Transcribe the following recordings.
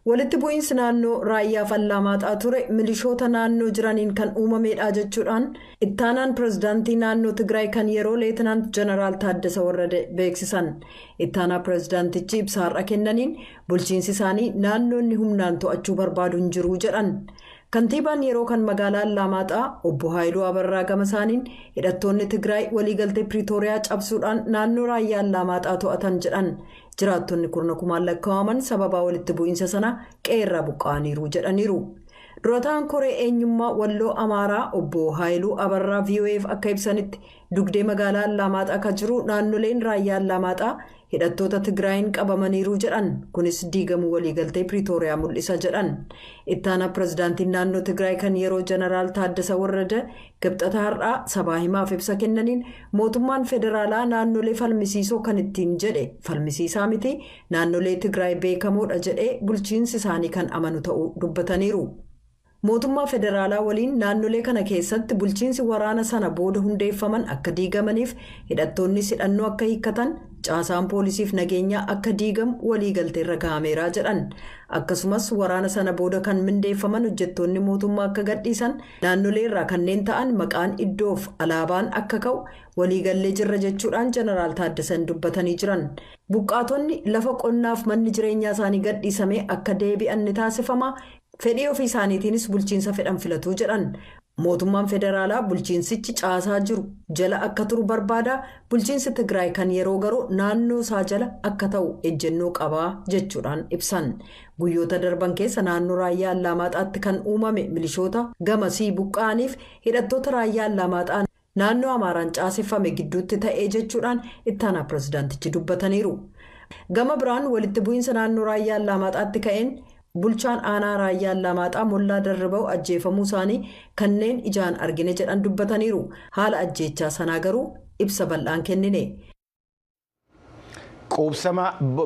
Walitti bu'iinsi naannoo Raayyaaf Allaamaaxaa ture milishoota naannoo jiraniin kan uumameedha jechuudhaan ittaanaan pirezidaantii naannoo Tigraay kan yeroo Leetinaant Jeneraal Taaddasa Warrade beeksisan. Ittaanaa pirezidaantichi ibsa har'a kennaniin bulchiinsi isaanii naannoo inni humnaan to'achuu barbaadu hin jiru jedhan. Kantiibaan yeroo kan magaalaa Allaamaaxaa obbo Haayiluu Abarraa gama isaaniin hidhattoonni Tigraay waliigaltee Piriitooriyaa cabsuudhaan naannoo Raayyaa Allaamaaxaa to'atan jedhan. Jiraattonni kurna kumaan lakkaa'aman sababaa walitti bu'iinsa sanaa qe'ee irraa buqqa'aniiru jedhaniiru. Durataan koree eenyummaa Walloo Amaaraa obbo Haayiluu Abarraa VOA'f akka ibsanitti dugdee magaalaa Allaamaaxaa ka jiru naannoleen Raayyaa Allaamaaxaa hidhattoota Tigraayiin qabamaniiru jedhan kunis diigamuu waliigaltee Piriitooriyaa mul'isa jedhan. Ittaanaa pirezidaantiin naannoo Tigraay kan yeroo Jeneraal Taaddasa Warrada Kibxata har'aa sabaa himaaf ibsa kennaniin mootummaan federaalaa naannolee falmisiisoo kan ittiin jedhe falmisiisaa miti, naannolee Tigraay beekamoodha jedhee bulchiinsi isaanii kan amanu ta'uu dubbataniiru. Mootummaa federaalaa waliin naannolee kana keessatti bulchiinsi waraana sana booda hundeeffaman akka diigamaniif hidhattoonnis hidhannoo akka hiikkatan, caasaan poolisiif nageenyaa akka diigamu waliigalteerra gahameeraa jedhan. Akkasumas waraana sana booda kan mindeeffaman hojjettoonni mootummaa akka gadhiisan Naannolee irraa kanneen ta'an maqaan iddoof alaabaan akka ka'u waliigallee jirra jechuudhaan Jeneraal Taaddasan dubbatanii jiran. Buqqaatonni lafa qonnaaf manni jireenyaa isaanii gadhiisamee akka deebi'an ni taasifama, fedhii ofii isaaniitiinis bulchiinsa fedhan filatu jedhan. Mootummaan federaalaa bulchiinsichi caasaa jiru jala akka turu barbaada, bulchiinsi Tigraay kan yeroo garuu naannoo isaa jala akka ta'u ejjennoo qaba jechuudhaan ibsan. Guyyoota darban keessa naannoo Raayyaa Allaamaaxaatti kan uumame milishoota gamasii buqqa'aniif hidhattoota Raayyaa Allaamaaxaa naannoo Amaaraan caaseffame gidduutti ta'ee jechuudhaan ittaanaa pirezidaantichi dubbataniiru. Gama biraan walitti bu'iinsa naannoo Raayyaa Allaamaaxaatti ka'een bulchaan aanaa Raayyaa Allaamaaxaa Mollaa Darriba'u ajjeefamuu isaanii kanneen ijaan argine jedhan dubbataniiru. Haala ajjeechaa sanaa garuu ibsa bal'aan kennine. Quubsama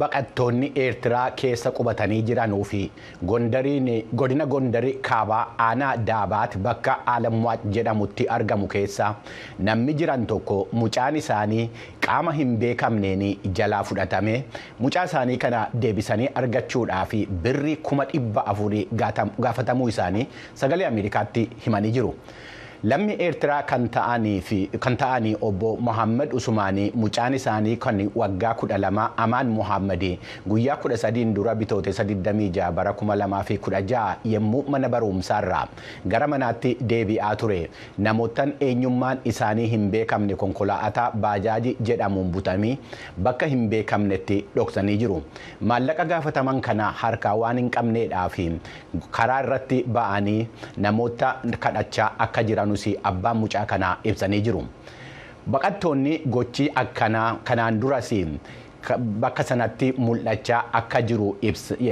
baqattoonni Eertiraa keessa qubatanii jiranuu fi Gondariin godina Gondari kaabaa aanaa Daabaat bakka Alamwaac jedhamutti argamu keessa namni jiran tokko mucaan isaanii qaama hin beekamneen jalaa fudhatame mucaa isaanii kana deebisanii argachuudhaaf birrii kuma dhibba afurii gaafatamuu isaanii sagalee Ameerikaatti himanii jiru. Lammii Eertiraa kan ta'ani Obbo Mohaammad Usumaanii mucaan isaanii kan waggaa 12 Amaan Mohaammadi guyyaa 13n dura Bitootessa 26 bara 2016 yemmuu mana baruumsaarraa gara manaatti deebi'aa ture namoottan eenyummaan isaanii hin beekamne konkolaa'ataa baajaaji jedhamuun butanii bakka hin beekamnetti dhoksanii jiru. Maallaqa gaafataman kana harkaa waan hin qabneedhaafi karaa irratti ba'anii namoota kadhachaa akka jiranus abbaan mucaa kanaa ibsanii jiru. Baqattoonni gochi akkanaa kanaan duras bakka sanatti mul'achaa akka jiru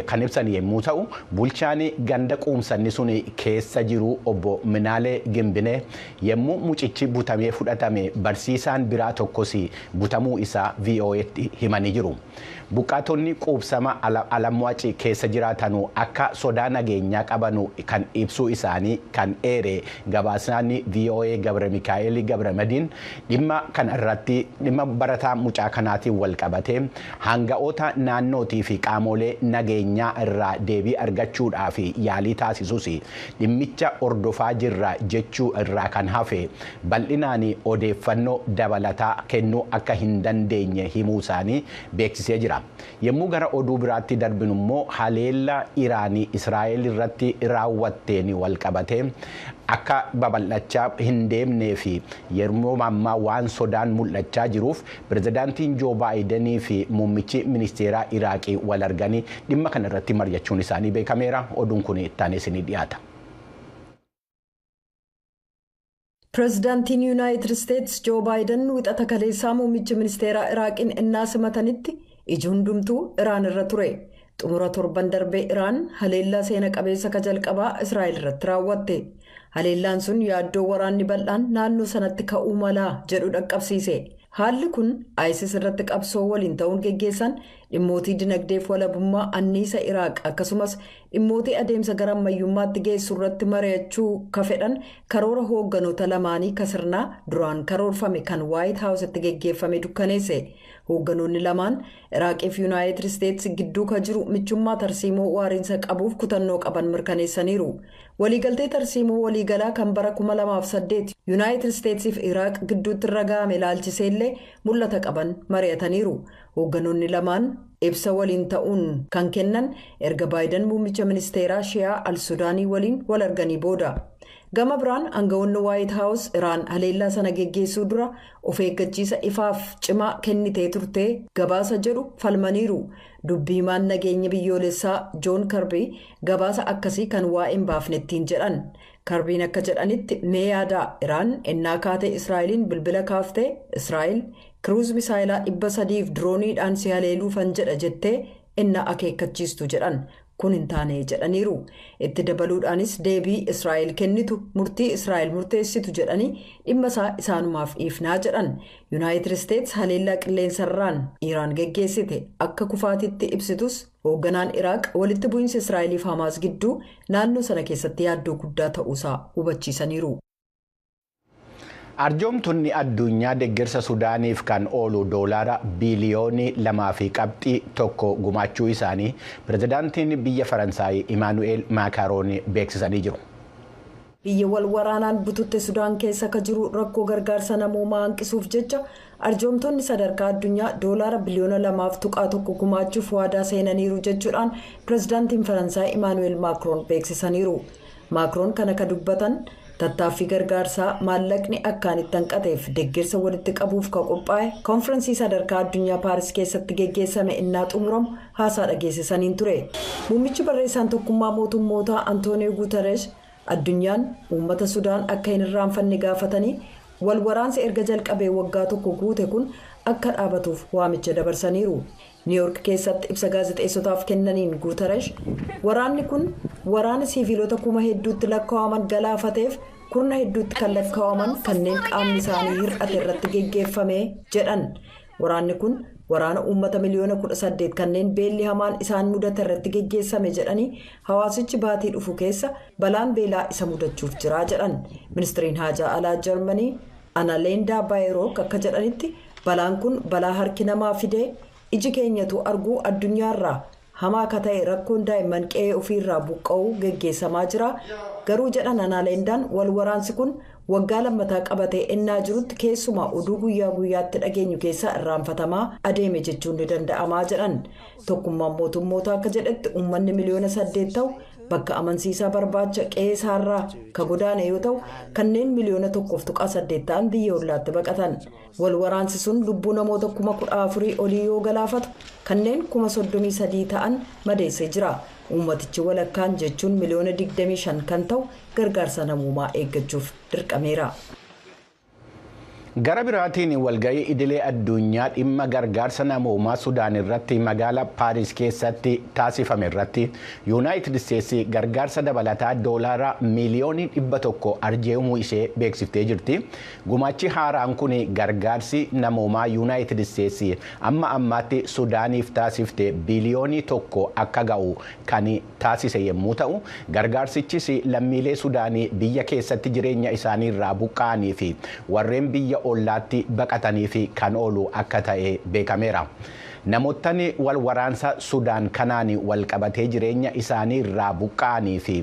kan ibsan yommuu ta'u, bulchaan ganda quumsanni sun keessa jiru obbo Minaalee Gimbinee yommuu mucichi butamee fudhatame barsiisaan biraa tokkos butamuu isaa VOA'tti himanii jiru. Buqqaatonni quubsama Alamwaci keessa jiraatanu akka sodaa nageenyaa qabanu kan ibsuu isaanii kan eere gabaasaan voa Gabramikaa'el Gabramadiin dhimma kana irratti dhimma barataa mucaa kanaatiin wal qabatee haanga'oota naannootii fi qaamoolee nageenyaa irraa deebii argachuudhaaf yaalii taasisusi dhimmicha hordofaa jirra jechuu irraa kan hafe bal'inaan odeeffannoo dabalataa kennuu akka hin dandeenye himuu isaanii beeksisee jira. Yemmuu gara oduu biraatti darbinu immoo haleellaa Iraan Israa'el irratti raawwatteen wal qabatee akka babal'achaa hin deemnee fi yeroo ammaa waan sodaan mul'achaa jiruuf Pirezidaantiin Joo Baayidenii fi muummichi ministeeraa Iraaqii wal arganii dhimma kana irratti mari'achuun isaanii beekameera. Oduun kun ittaanee isinii dhiyaata. Pirezidaantiin Yuunaayitid Isteets Joo Baayidan wixata kaleessaa muummichi ministeeraa Iraaqiin ennaa simatanitti iji hundumtuu Iraan irra ture. Xumura torban darbee Iraan haleellaa seena qabeessa ka jalqabaa Israa'el irratti raawwatte. Haleellaan sun yaaddoo waraanni bal'aan naannoo sanatti ka'uu malaa jedhu dhaqqabsiise. Haalli kun ISIS irratti qabsoo waliin ta'uun geggeessan Dhimmootii dinagdeef walabummaa anniisa Iraaq akkasumas dhimmootii adeemsa gara ammayyummaatti geessu irratti mari'achuu ka fedhan karoora hoogganoota lamaanii ka sirnaa duraan karoorfame kan Waayit Haawusitti geggeeffame dukkaneesse. Hoogganoonni lamaan Iraaqiif Yunaayitid Isteets gidduu ka jiru michummaa tarsiimoo waariinsa qabuuf kutannoo qaban mirkaneessaniiru. Waliigaltee tarsiimoo waliigalaa kan bara 2008 Yunaayitid Isteetsiif Iraaq gidduutti irra ga'ame ilaalchiseellee mul'ata qaban mari'ataniiru. Hoogganoonni lamaan ibsa waliin ta'uun kan kennan erga Baayidan muummicha ministeeraa Shiyaa al-Sudaanii waliin wal arganii booda. Gama biraan aangawoonni Waayit Haawus Iraan haleellaa sana geggeessuu dura of eeggachiisa ifaaf cimaa kennitee turtee gabaasa jedhu falmaniiru. Dubbi himaan nageenya biyyoolessaa Joon Karbii gabaasa akkasii kan waa'ee hin baafne ittiin jedhan. Karbiin akka jedhanitti mee yaadaa Iraan ennaa kaatee Israa'eliin bilbila kaaftee Israa'el Kiruuz misaayilaa 300 fi dirooniidhaan si haleeluufan jedha jettee ennaa akeekkachiistu jedhan. Kun hin taane jedhaniiru. Itti dabaluudhaanis deebii Israa'el kennitu murtii Israa'el murteessitu jedhanii dhimma isaa isaanumaaf dhiifnaa jedhan. Yunaayitid Isteets haleellaa qilleensarraan Iraan geggeessite akka kufaatiitti ibsitus hoogganaan Iraaq walitti bu'iinsa Israa'eliif Hamaas gidduu naannoo sana keessatti yaaddoo guddaa ta'uusaa hubachiisaniiru. Arjoomtonni addunyaa deggersa Sudaaniif kan oolu doolaara biiliyoonii lamaa fi qabxii tokko gumaachuu isaanii pirezidaantiin biyya Faransaay Imaanu'eel Maakaaroon beeksisanii jiru. Biyya wal waraanaan bututte Sudaan keessa akka jiru rakkoo gargaarsa namoomaa hanqisuuf jecha arjoomtonni sadarkaa addunyaa doolaara biliyoona lamaaf tuqaa tokko gumaachuuf waadaa seenaniiru jechuudhaan pirezidaantiin Faransaay Imaanu'eel Maakroon beeksisaniiru. Maakroon kana ka dubbatan tattaaffii gargaarsaa maallaqni akkaan itti hanqateef deggersa walitti qabuuf ka qophaa'e konfiransii sadarkaa addunyaa Paaris keessatti geggeessame innaa xumuramu haasaa dhageessisaniin ture. Muummichi barreessaan Tokkummaa Mootummootaa Antooniyoo Guutareesh addunyaan uummata Sudaan akka hin irraanfanne gaafatanii wal waraansi erga jalqabee waggaa tokko guute kun akka dhaabatuuf waamicha dabarsaniiru. Niiwoork keessatti ibsa gaazexeessotaaf kennaniin Guutarash, waraanni kun waraana siiviilota kuma hedduutti lakkaa'aman galaafateef kurna hedduutti kan lakkaa'aman kanneen qaamni isaanii hir'ate irratti geggeeffame jedhan. Waraanni kun waraana uummata miliyoona 18 kanneen beelli hamaan isaan mudate irratti geggeessame jedhanii hawaasichi baatii dhufu keessa balaan beelaa isa mudachuuf jira jedhan. Ministriin Haajaa Alaa Jarmanii Analeendaa Baayerook akka jedhanitti, Balaan kun balaa harki namaa fidee iji keenyatuu arguu addunyaa irraa hamaa ka ta'e rakkoon daa'imman qe'ee ofii irraa buqqa'uu geggeessamaa jira, garuu jedhan Anaalendaan wal waraansi kun waggaa lammataa qabatee ennaa jirutti keessumaa oduu guyyaa guyyaatti dhageenyu keessaa irraanfatamaa adeeme jechuun ni danda'amaa jedhan. Tokkummaan mootummootaa akka jedhetti uummanni miliyoona saddeet ta'u bakka amansiisaa barbaacha qe'ee isaarraa ka godaane yoo ta'u kanneen miliyoona tokkoof tuqaa saddeet ta'an biyya ollaatti baqatan. Wal waraansi sun lubbuu namoota kuma kudha afurii olii yoo galaafatu kanneen kuma soddomii sadii ta'an madeessee jira. Uummatichi walakkaan jechuun miliyoona digdamii shan kan ta'u gargaarsa namoomaa eeggachuuf dirqameera. Gara biraatiin walga'ii idilee addunyaa dhimma gargaarsa namoomaa Sudaan irratti magaala Paaris keessatti taasifame irratti Yuunaayitid Isteetsi gargaarsa dabalataa doolaara miiliyoonii dhibba tokko arjeemuu ishee beeksiftee jirti. Gumaachi haaraan kun gargaarsi namoomaa Yuunaayitid Isteetsi amma ammaatti Sudaaniif taasifte biiliyoonii tokko akka ga'u kan taasise yemmuu ta'u, gargaarsichis lammiilee Sudaanii biyya keessatti jireenya isaanii irraa buqqa'anii fi warreen biyya ollaatti baqataniif kan oolu akka ta'e beekameera. Namoottan wal waraansa Sudaan kanaan wal qabatee jireenya isaanii irraa buqqa'anii fi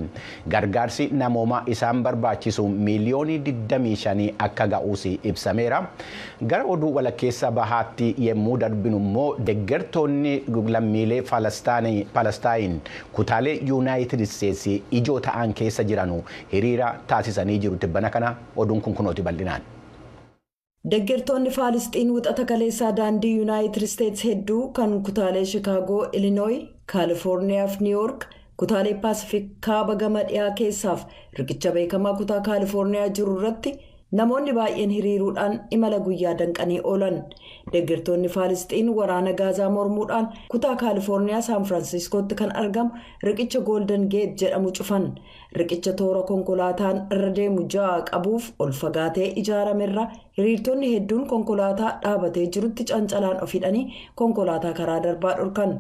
gargaarsi namoomaa isaan barbaachisu miiliyoonii 25 akka ga'uus ibsameera. Gara oduu walakkeessa bahaatti yemmuu darbinu immoo deggertoonni lammiilee Palastaayin kutaalee Yunaayitid Isteetsi ijoo ta'an keessa jiranu hiriira taasisanii jiru tibbana kana oduun kun kunooti bal'inaan. Deggertoonni Faalisxiin Wixata kaleessaa daandii Yunaayitid Isteetsi hedduu kan kutaalee Shikaagoo, Ilinooyi, Kaalifoorniyaa fi Niiwoork, kutaalee Paasifik kaaba gama dhiyaa keessaaf riqicha beekamaa kutaa Kaalifoorniyaa jiru irratti Namoonni baay'een hiriiruudhaan imala guyyaa danqanii oolan. Deggertoonni Faalisxiin waraana Gaazaa mormuudhaan kutaa Kaalifoorniyaa Saan Firaansiskootti kan argamu riqicha Gooldan Geet jedhamu cufan. Riqicha toora konkolaataan irra deemu ja'a qabuuf ol fagaatee ijaarame irra hiriirtonni hedduun konkolaataa dhaabatee jirutti cancalaan of hidhanii konkolaataa karaa darbaa dhorkan.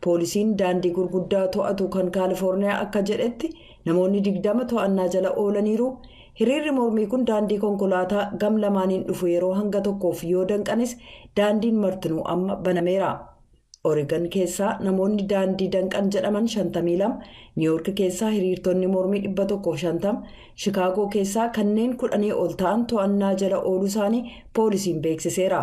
Poolisiin daandii gurguddaa to'atu kan Kaalifoorniyaa akka jedhetti namoonni 20 to'annaa jala oolaniiru. Hiriirri mormii kun daandii konkolaataa gam lamaaniin dhufu yeroo hanga tokkoof yoo danqanis daandiin martinuu amma banameera. Oregon keessaa namoonni daandii danqan jedhaman 52, Niiwoork keessaa hiriirtonni mormii 150, Shikaagoo keessaa kanneen kudhanii ol ta'an to'annaa jala ooluu isaanii poolisiin beeksiseera.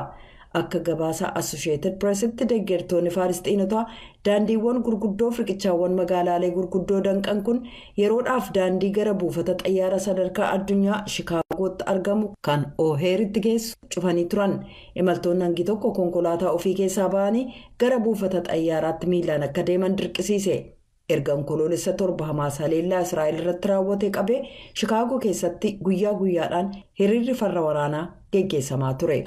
Akka gabaasa Assosheetid Piresitti deggertoonni Faalisxiinotaa daandiiwwan gurguddoof riqichaawwan magaalaalee gurguddoo danqan kun yeroodhaaf daandii gara buufata xayyaara sadarkaa addunyaa Shikaagootti argamu kan Ooheeritti geessu cufanii turan. Imaltoonni hangi tokko konkolaataa ofii keessaa ba'anii gara buufata xayyaaraatti miilaan akka deeman dirqisiise. Erga Onkoloolessa 7 Hamaas haleellaa Israa'el irratti raawwatee qabee Shikaagoo keessatti guyyaa guyyaadhaan hiriirri farra waraanaa geggeessamaa ture.